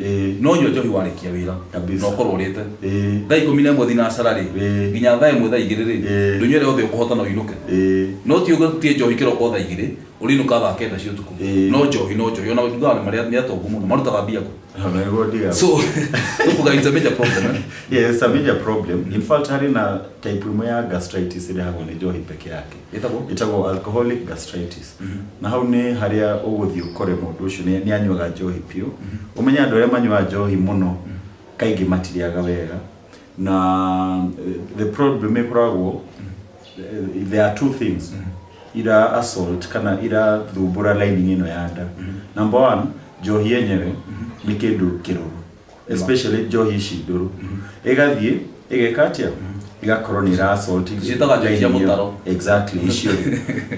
Ĩĩ. no nyua njohi warĩkia wĩra Kabisa. na ũkorwo ũrĩte Ĩĩ. thaa ikũmi na ĩmwe thinacara rĩ Ĩĩ. nginya thaa ĩmwe thaa igĩrĩ rĩ Ĩĩ. ndũnyuĩre yothe ũkũhota na ũinũke Ĩĩ. no ti ũguo tie njohi kĩroko thaa igĩrĩ ũrinũka thaa kenda cia ũtukũ Ĩĩ. no njohi no njohi ona thutha nĩ marĩa nĩ atongu mũno marutaga mbia kũ Ona nĩguo ndigagwo. so ũkuga it's a major problem eh? Yes, it's a major problem. In fact, harĩ na type ĩmwe ya gastritis ĩrehagwo nĩ njohi peke yake. Ĩtagwo? ĩtagwo alcoholic gastritis na hau nĩ harĩa ũgũthiĩ ũkore mũndũ ũcio nĩ nĩ anyuaga njohi biũ ũmenye andũ arĩa manyuaga njohi mũno kaingĩ matirĩaga wega na eh, the problem ĩkoragwo eh, there are two things ira assault kana ira thumbũra lining ĩno ya nda number one njohi yenyewe nĩ kĩndũ kĩrũrũ especially njohi ici ndũrũ ĩgathiĩ ĩgeka atĩa ĩgakorwo nĩ ĩra assault ici. Ciĩtaga njohi cia mũtaro. exactly icio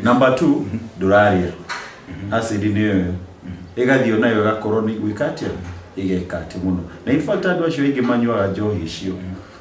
number two ndũrarĩa acid nĩ ĩyo ĩgathiĩ onayo ĩgakorwo nĩ gwĩka atĩa ĩgeka atĩ mũno na in fact andũ acio aingĩ manyuaga njohi icio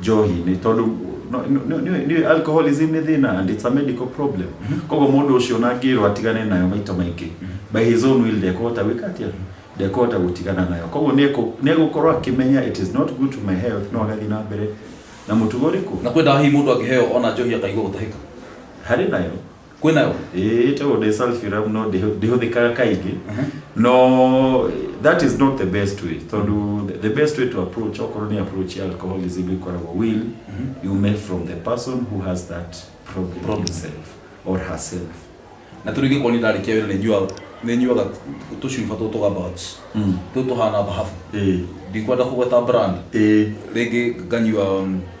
njohi nĩ tondũ no- nĩ- nĩ- nĩ- nĩ- alcoholism nĩ thĩna and it's a medical problem koguo mũndũ ũcio na angĩrwo atigane nayo maita maingĩ by his own will ndekũhota gwĩka atĩa ndekũhota gũtigana nayo koguo nĩekũ- nĩegũkorwo akĩmenya it is not good to my health no agathiĩ na mbere na mũtugo ũrĩkũ na kwenda hihi mũndũ angĩheo ona njohi akaigua gũtahĩka harĩ nayo kwĩ nayo ĩĩ tondũ ndĩ sulfurum no ndĩhũ- ndĩhũthĩkaga kaingĩ no that is not the best way tondũ the- the best way to approach okorwo nĩ approach ya alcoholism ĩkoragwo will you make from the person who has that problem, Problem. himself or herself na tå rä ngä korwo nä ndarä kia wä ra nä nyuaga tå cuba tå tå gabats Mm. tå tå hana thahabu Ĩĩ. ndikwenda kå gweta brand ĩĩ rä ngä nganyua um,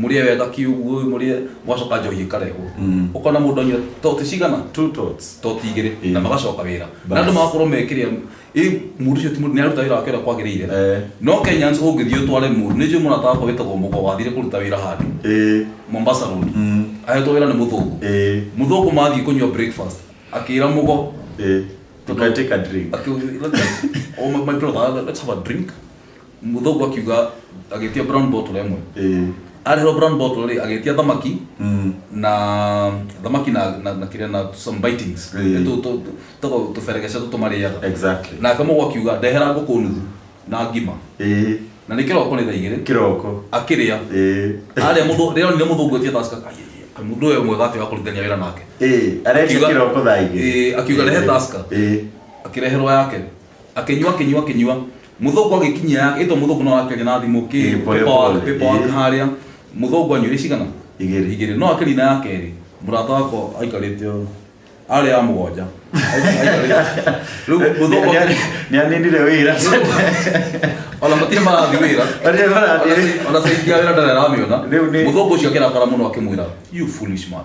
mũrĩe wega kiuguo ũyũ mũrĩe mwacoka njohi ikarehwo Mm. ũkona mũndũ anyua toti cigana two tots toti igĩrĩ Ĩĩ. na magacoka wĩra Bas. na andũ magakorwo mekĩrĩa ĩ mũndũ ũcio ti mũndũ nĩaruta wĩra wake ũrĩa kwagĩrĩire Eh. no kenyans ũngĩthiĩ ũtware mũndũ nĩ njũĩ mũrata wakwa wĩtagwo mũgo wathire kũruta wĩra handũ Eh, mombasa road mm, ahetwo wĩra nĩ mũthũngũ eh, mũthũngũ mathiĩ kũnyua breakfast akĩra mũgo eh. Tũka take a drink. akĩra my brother let's have a drink mũthũngũ akiuga agĩtia brown bottle ĩmwe Eh. arehwo brown bottle rĩ agĩtia thamaki Mm. na thamaki na na, na kĩrĩa na some bitings Eh. Nĩ tũ- tũ- tũ- tũgo- tũberegeca tũtũ marĩaga Exactly. na akamũgwa akiuga ndehera ngũkũ nuthu na ngima Eh. na nĩ kĩroko nĩ thaa igĩrĩ Kĩroko. akĩrĩa Eh. arĩa mũndũ rĩrĩa onire mũthũngũ etia taska mũndũ ũyũ mwega atĩ wa kũrutithania wĩra nake Eh. Areka Akiuga- kĩroko thaa igĩrĩ. Eh, akiuga rehe taska. Eh. akĩreherwo yake akĩnyua akĩnyua akĩnyua mũthũngũ agĩkinyia yake ĩtwo mũthũngũ no akĩaria na thimũ kĩ Ĩ, pole paper wake- pole, paper wake ĩ. harĩa mũthũngũ anyuire cigana Igĩrĩ. igĩrĩ no akĩri na yake ĩrĩ mũrata wako aikarĩte ũũ arĩ ya mũgwanja Aikarĩte. rĩu mũthũngũ akĩri- nä aninire wä ra ona matirĩ marathi wĩra ona saidia wĩra ndarĩ aramĩona Rĩu nĩ- mũthũngũ ũcio akĩrakara mũno akĩmwĩra you foolish man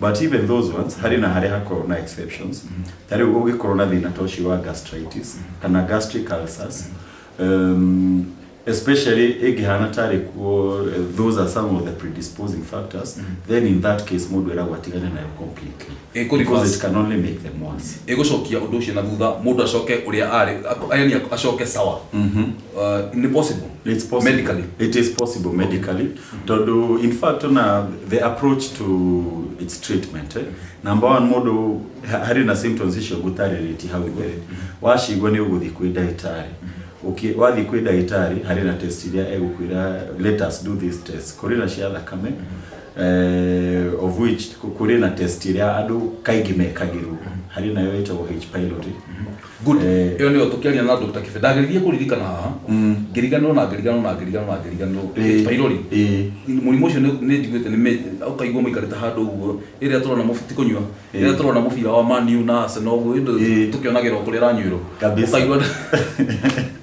But even those ones, harĩ na harĩa hakorwo na exceptions. Ta rĩu ũngĩkorwo na thĩna ta ũcio wa gastritis kana gastric ulcers, um, especially ĩngĩhana tarĩ kuo, eh, those are some of the predisposing factors, then in that case mũndũ eragwo atigane nayo completely. Ĩkũ Because reverse. it can only make them worse. ĩgũcokia ũndũ ũcio na thutha mũndũ acoke ũrĩa arĩ ako- yani acoke sawa uh, ni possible It's possible. medically It is possible medically. Tondũ in fact ona the approach to its treatment eh? number one mũndũ ha- harĩ na symptoms icio ngũtarĩrĩti hau mbere wacigua nĩ ũgũthiĩ kwĩ ndagĩtarĩ Ũki- wathiĩ kwĩ ndagĩtarĩ harĩ na test iria egũkwĩra let us do this test kũrĩ na cia thakame eh, of which kũ- kũrĩ na test iria andũ kaingĩ mekagĩrwo harĩ nayo ĩtagwo H pylori Good. Eh. Ĩyo nĩyo tũkĩaria na Dr. Kibe. Ndageririe kũririkana haha. Mm. Ngĩriganĩrwo na ngĩriganĩrwo na ngĩriganĩrwo na ngĩriganĩrwo. Eh. Pairori. Eh. Mũrimũ ũcio nĩ- nĩ njiguĩte nĩ mĩ- ũkaigua mũikarĩte handũ ũguo. Rĩrĩa tũrona mũbi- ti kũnyua. Rĩrĩa Eh. tũrona mũbira wa Man U na Arsenal ũguo, ĩndĩ Eh. tũkĩonagĩra o kũrĩa ĩranyuĩrwo. Kabisa. Ũkaigua-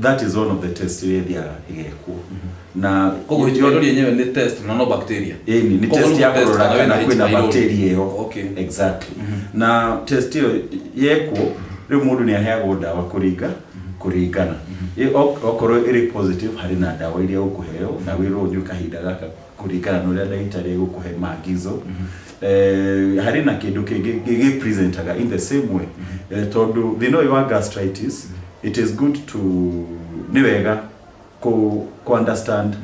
that is one of the test iria ithiaga igekwo na koguo Rift Valley yenyewe ni test na no bacteria Ĩĩ, ni Koguo test ni ya gũtest kũrora kana kana wĩna kwĩna H. pylori. bacteria ĩyo Okay. exactly na test ĩyo yekwo rĩu mũndũ nĩ aheagwo ndawa kũringa kũringana Ĩ- ok- okorwo ĩrĩ positive harĩ na ndawa iria ũkũheo na wĩrwo ũnyue kahinda gaka kũringana na ũrĩa ndagĩtarĩ egũkũhe maagizo eh, harĩ na kĩndũ kĩngĩ gĩgĩpresentaga in the same way eh, tondũ thĩna ũyũ wa gastritis it is good to nĩ wega kũ, kũ understand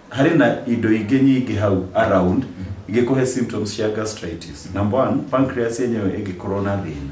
harĩ na indo ingĩ nyingĩ hau around igĩkũhe symptoms cia gastritis number one pancreas yenyewe ĩngĩkorwo na thĩna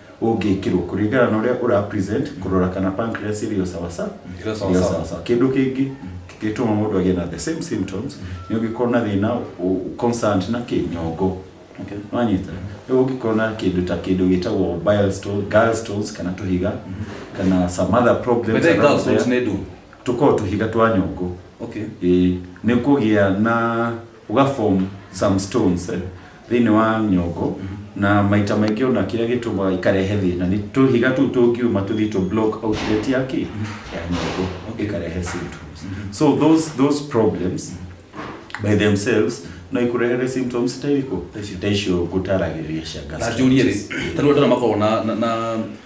ũngĩkĩrwo kũringana na ũrĩa ũra present kũrora kana pancreas ĩrĩ o sawa sawa Ĩrĩ o sawa ĩrĩ o sawa. sawa sawa kĩndũ kĩngĩ gĩtũma mũndũ agĩe na the same symptoms nĩ ũngĩkorwo na thĩna ũ- concerned na kĩnyongo Okay. wanyita rĩu ũngĩkorwo na kĩndũ ta kĩndũ gĩtagwo bile stone, gall stones kana tũhiga kana some other problems Whether around girls there. want to do. tũkoragwo tũhiga twa nyongo Okay. Ĩĩ, nĩ kũgĩa na Ũga form some stones thĩinĩ wa nyongo na maita maingĩ ona kĩrĩa gĩtũmaga ikarehe thĩna nĩ tũhiga tũu tũngiuma tũthiĩ tũ block outlet ya kĩ ya nyongo ĩkarehe symptoms so those, those problems by themselves no ikũrehere symptoms ta irĩkũ ta icio ngũtaragĩria cia na njũrie rĩ gastritis tarĩu andũ arĩa makoragwo na, na, na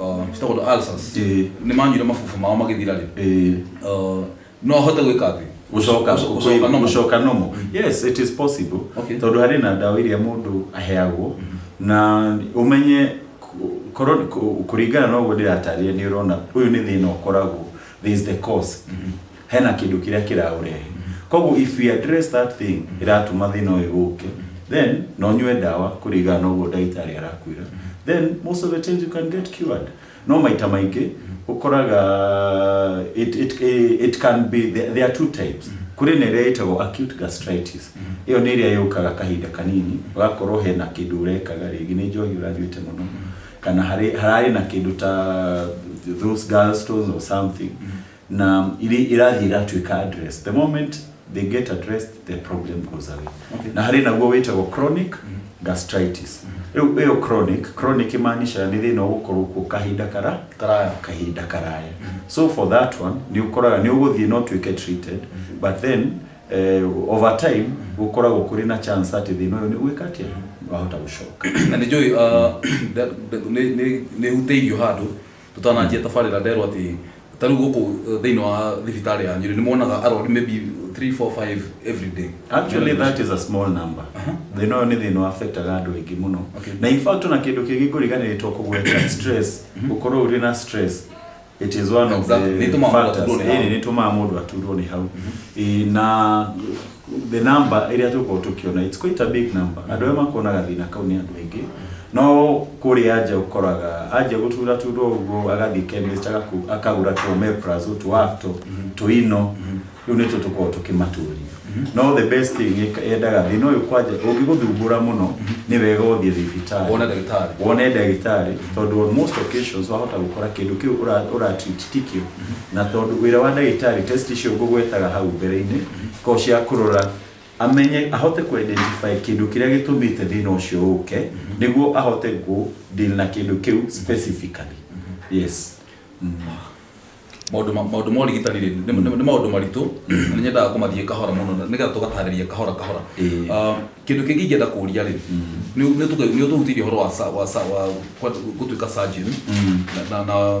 uh, citagwo ndo ulcers Ĩĩ. nĩ manyuire mabubu mao magĩthira rĩ Ĩĩ. uh, no ahote gwĩka atĩ gucoka Gũcoka gũcoka normal. gucoka normal yes it is possible Okay. tondu hari na ndawa iria mundu aheagwo na umenye ku- korwo ku- kuringana na uguo ndiratarire ni urona uyu ni thina ukoragwo there is the cause hena kĩndũ kĩrĩa kĩraũrehe koguo if we address that thing ĩratuma thĩna ũyũ ũke then na ũnyue ndawa kũringana na ũguo ndagĩtarĩ arakwĩra then most of the times you can get cured no maita maingĩ ũkoraga it, it, it can be there, there are two types kũrĩ na ĩrĩa ĩtagwo acute gastritis ĩyo nĩ ĩrĩa yũkaga kahinda kanini ũgakorwo hena kĩndũ ũrekaga rĩngĩ nĩ njohi ũranyuĩte mũno kana harĩ hararĩ na kĩndũ ta those gallstones or something na iri- irathiĩ ĩratuĩka address the moment they get addressed the problem goes away Okay. na harĩ naguo wĩtagwo chronic gastritis rĩu ĩyo chronic chronic imaanisha nĩ thĩna ũgũkorwo kuo kahinda kara Karaya. kahinda karaya so for that one nĩ ũkoraga nĩ ũgũthiĩ no tuĩke treated but then eh, over time gũkoragwo kũrĩ na chance atĩ thĩna ũyũ nĩ gwĩka atĩa wahota gũcoka na nä njå nä huteirio handå Tũtananjia tabarĩra nderwo atĩ ta rĩu gũkũ uh, thĩinĩ wa thibitarĩ ya Nyeri nĩ monaga arori maybe 3 4 5 every day. Actually that is a small number. Thĩna ũyũ nĩ thĩna affectaga andũ aingĩ mũno. Okay. Na in fact na kĩndũ kĩngĩ ngũriganĩrĩtwo kũgweta stress. Gũkorwo ũrĩ na stress. It is one of Exactly. Nĩ the ĩtũmaga mũndũ factors. aturwo nĩ hau. Ĩĩ, nĩ ĩtũmaga mũndũ aturwo nĩ hau. Ĩĩ, na the number ĩrĩa tũkorwo tũkĩona it's quite a big number andũ arĩa makuonaga thĩna kau nĩ andũ aingĩ no kũrĩa anja ũkoraga anja gũtura turo ũguo agathiĩ chemist agaku- akagũra tũ omeprazole tũ afto tũ ino rĩu nĩtwo tũkorwo tũkĩmatũria no the best thing ĩka- yendaga thĩna ũyũ kwanja ũngĩgũthumbũra mũno nĩ wega ũthiĩ thibitarĩ Wone ndagĩtarĩ. wone ndagĩtarĩ tondũ on most occasions wahota gũkora kĩndũ kĩu ũra- ũratreat Tikio. Na tondũ wĩra wa ndagĩtarĩ, test icio ngũgwetaga hau mbere-inĩ, cikoragwo cia kũrora amenye, ahote kũ identify kĩndũ kĩrĩa gĩtũmĩte thĩna ũcio ũke, nĩguo ahote kũ deal na kĩndũ kĩu specifically. Yes. maũndũ ma- maũndũ ma ũrigitani rĩ, nĩ nĩ- nĩ maũndũ maritũ na nĩ nyendaga kũmathiĩ kahora mũno na- nĩgetha tũgatarĩria kahora kahora Ĩĩ. Ah, kĩndũ kĩngĩ ingĩenda kũria rĩ nĩ ũtũhutĩirie ũhoro wa sa- wa sa- wa kwa- gũtuĩka surgeon na- na- na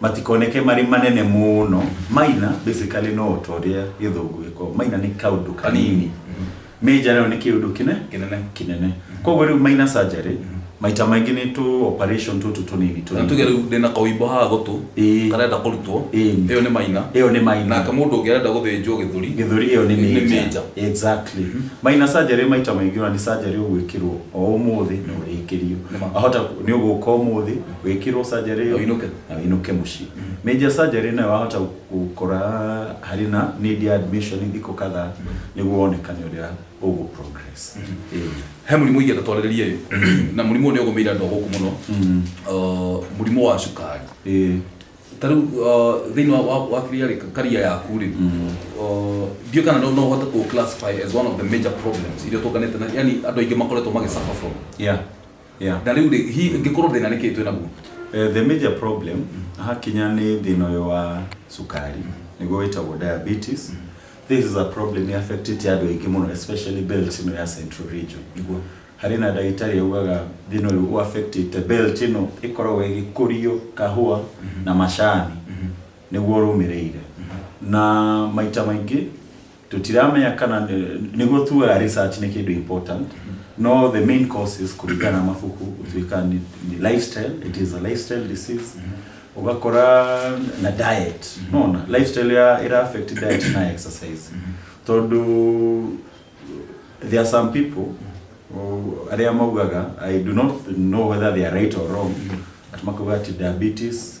Matikoneke marĩ manene mũno. Minor basically no ta ũrĩa gĩthũngũ gĩkoragwo. Minor nĩ kaũndũ kanini. Major nayo nĩ kĩũndũ kĩne Kĩnene. kĩnene. Koguo rĩu minor surgery maita maingĩ nĩ tũ operation tũtũ tũnini Na tũnini. tuge rĩu ndĩna kaũimbo haha gũtũ Ĩĩ. karenda kũrutwo Ĩĩ. ĩyo nĩ maina Ĩyo nĩ minor. nake mũndũ ũngĩ arenda gũthĩnjwo gĩthũri gĩthũri ĩyo nĩ Nĩ major. major. Exactly. Minor surgery maita maingĩ ona nĩ surgery ũgwĩkĩrwo o ũmũthĩ na ũrĩkĩrio. Nĩ ma. Wahota nĩ ũgũka ũmũthĩ wĩkĩrwo surgery Na ũinũke. na wĩinũke mũciĩ major surgery nayo wahota gũkora harĩ na need ya admission thikũ kadhaa nĩguo wonekane ũrĩa ũgũ progress Ĩĩ. he mũrimũ ingĩ tatwarĩrĩrie na mũrimũ ũyũ nĩ ũgũmĩire andũ a gũkũ mũno Uh, mũrimũ wa cukari Ĩĩ. ta rĩu uh, thĩinĩ wa- wa- wa kĩrĩa rĩ karia yaku rĩ uh, ndiũ kana no no ũhote kũ classify as one of the major problems iria tũnganĩte na yani andũ aingĩ makoretwo magĩsuffer from yeah Yeah. na rĩu rĩ hihi ĩngĩkorwo thĩna nĩ kĩĩ twĩ naguo Eh, the major problem hakinya nĩ thĩna ũyũ wa cukari nĩguo wĩtagwo diabetes this is a problem affectĩte andũ aingĩ mũno especially belt ĩno ya central region nĩguo harĩ na ndagĩtarĩ augaga thĩna ũyũ ũ affectĩte belt ĩno ĩkoragwo ĩgĩkũrio kahũa na macani nĩguo rũmĩrĩire na maita maingĩ tutiramenya kana nĩ- nĩguo tuga research nĩ kĩndũ important no the main causes kũringana na mabuku gũtuĩka ni, ni lifestyle it is a lifestyle disease ũgakora na diet nona lifestyle ya ĩra affect diet na exercise tondũ there are some people oh, arĩa maugaga i do not know whether they are right or wrong ati makauga ati diabetes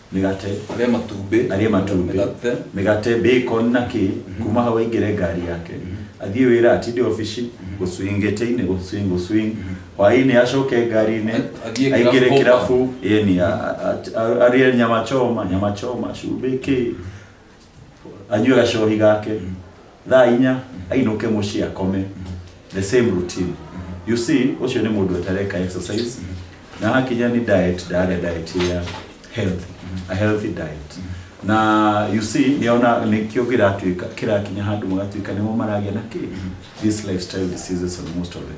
mĩgate, arĩa matumbĩ, arĩa matumbĩ, mĩgate, mĩgate bacon na kĩ kuma hau aingĩre ngari yake athiĩ wĩra atinde obici gũswing gĩtĩ-inĩ gũswing gũswing hwaĩ-inĩ acoke ngari-inĩ A- athiĩ kĩrabu aingĩre home. kĩrabu yani a- a- a- arĩe nyama choma nyama choma cumbĩ kĩ anyue gacohi gake thaa inya ainũke mũciĩ akome the same routine you see ũcio nĩ mũndũ atareka exercise na hakinya nĩ diet ndaria diet ya health a healthy diet na you see nĩona nĩkĩo kĩratuĩka kĩrakinya handũ magatuĩka nĩmo maragĩa na kĩ this lifestyle diseases on most of them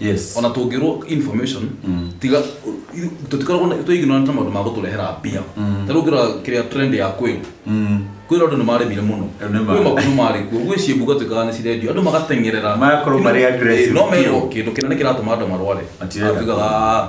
Yes. ona tũngĩrwo information tiga tũtikoragwo na- tũ ignorant na maũndũ ma gũtũrehera mbia ta rĩu ngĩrora kĩrĩa trend ya kwĩrũ kwĩrũ andũ nĩ maremire mũno Nĩ ma. kwĩ mabuku marĩ kuo gwĩ ciĩmbu gatuĩkaga nĩ cirendio andũ magateng'erera Magakorwo marĩ aggressive Eh, no merwo biũ. kĩndũ kĩnene kĩratũma andũ marware Matirenda. Atuĩkaga, "Ah,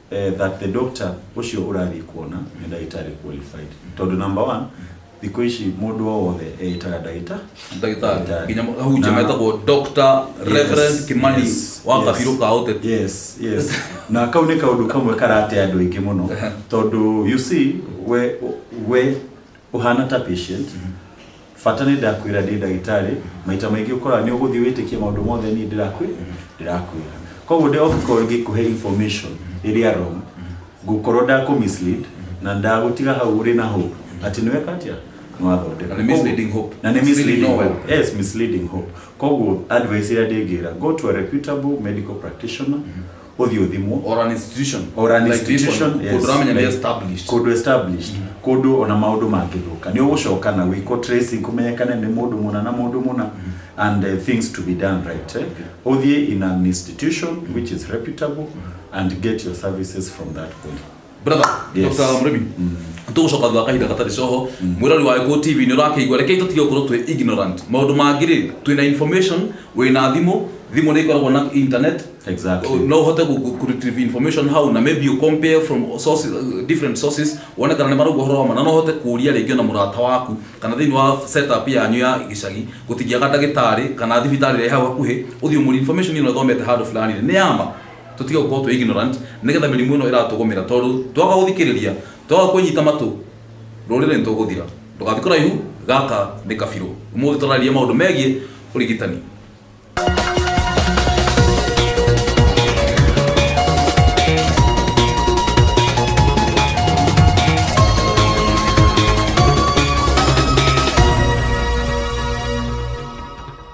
eh, that the doctor ũcio ũrathiĩ kuona nĩ ndagĩtarĩ qualified tondũ number one thikũ ici mũndũ o wothe eĩtaga ndagĩta ndagĩtarĩ nginya hujia Na- metagwo dr reverend Yes, kimani yes, wa yes. kabiru ka ũteti yes yes na kau nĩ kaũndũ kamwe karate andũ aingĩ mũno tondũ you see we we ũhana ta patient Bata nĩ ndakwĩra ndĩ ndagĩtarĩ, maita maingĩ ũkoraga nĩ ũgũthiĩ wĩtĩkie maũndũ mothe niĩ ndĩrakwĩ, ndĩrakwĩra. Koguo ndĩ ũngĩkorwo ngĩkũhe information ĩrĩa wrong, ngũkorwo ndakũ mislead, na ndagũtiga hau ũrĩ na hope, atĩ nĩ weka atĩa? Nĩ wathondeka. Na nĩ misleading hope. Na nĩ misleading Misleading no hope. Yes, misleading hope. Koguo advice ĩrĩa ndĩngĩra, go to a reputable medical practitioner, ũthiĩ ũthimwo or an institution or an Like this institution one, yes, kũndũ ũramenya nĩ like- established kũndũ established kũndũ ona maũndũ mangĩthũka nĩ ũgũcoka na wĩkwo tracing kũmenyekane nĩ mũndũ mũna na mũndũ mũna and uh, things to be done right eh? ũthiĩ in an institution which is reputable and get your services from that point brother Yes. Dr. Murimi tũgũcoka thutha wa kahinda gatarĩ coho mwĩrori wa Eko TV nĩ ũrakĩigua rekei tũtige gũkorwo twĩ ignorant maũndũ mangĩ rĩ twĩna information wĩna thimũ thimũ nĩ ĩkoragwo na internet Exactly. no ũhote gu- gu- retrieve information hau na maybe you compare from sources, uh, different sources wone kana nĩ marauga ũhoro wa ma na no ũhote kũria rĩngĩ ona mũrata waku kana thĩinĩ wa setup yanyu ya gĩcagi gũtingĩaga ndagĩtarĩ kana thibitarĩ ĩrĩa ĩ hau hakuhĩ ũthiĩ ũmũri information ĩno thomete handũ fulani nĩ yama Tũtige gũkorwo twĩ ignorant nĩgetha mĩrimũ ĩno ĩratũgũmĩra tondũ twaga gũthikĩrĩria, twaga kwĩnyita matũ, rũrĩrĩ nĩ tũgũthira. Ndũgathiĩ kũraihu, gaka nĩ Kabirũ. Ũmũthĩ tũrarĩrĩria maũndũ megiĩ ũrigitani.